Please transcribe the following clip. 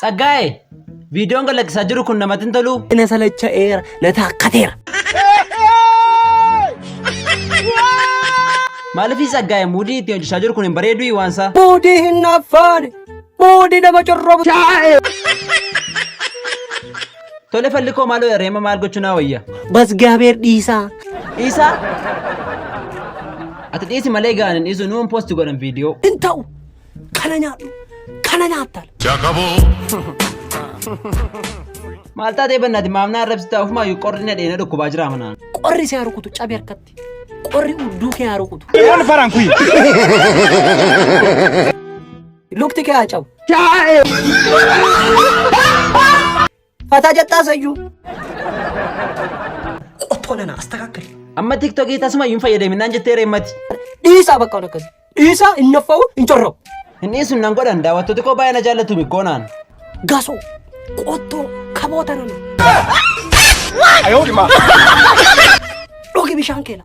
Tsaggaa'e, viidiyoon gad lakkisaa jiru kun namatti hin toluu? Na salacha'eera, na taakkateera. Maaliif Tsaggaa'e muudii itti hojjechaa jiru kun hin bareeduu waansaa? Muudii hin affaane, muudii nama corrobu. Tole falli koo maaloo reema maal gochuu naa wayya? Basgaabeer dhiisaa. Dhiisaa? Ati dhiisi malee gaaniin dhiisu nuun poosti godhan viidiyoo. Hin ta'u. Kana nyaadhu. Kana nyaattaal. Maal taatee bannaati maamnaa arrabsitaa ofumaa yoo qorri na dheena dhukkubaa jira manaa. Qorri si haa rukutu cabi harkatti. Qorri udduu kee haa rukutu. Waan faraan kuyi. Lukti kee haa cabu. Fataa jettaa sayyuu. Qottoo nana astakaakali. Amma tiktokii tasuma hin fayyadamin naan jettee reemmati. Dhiisaa bakka waan akkasii. Dhiisaa hin naffa'u hin corra'u. Hin dhiisun nan godhan daawwattoota koo baay'ee na jaallatu goonaan. Gasoo. Qottoo kaboota nana. Dhugi bishaan keena.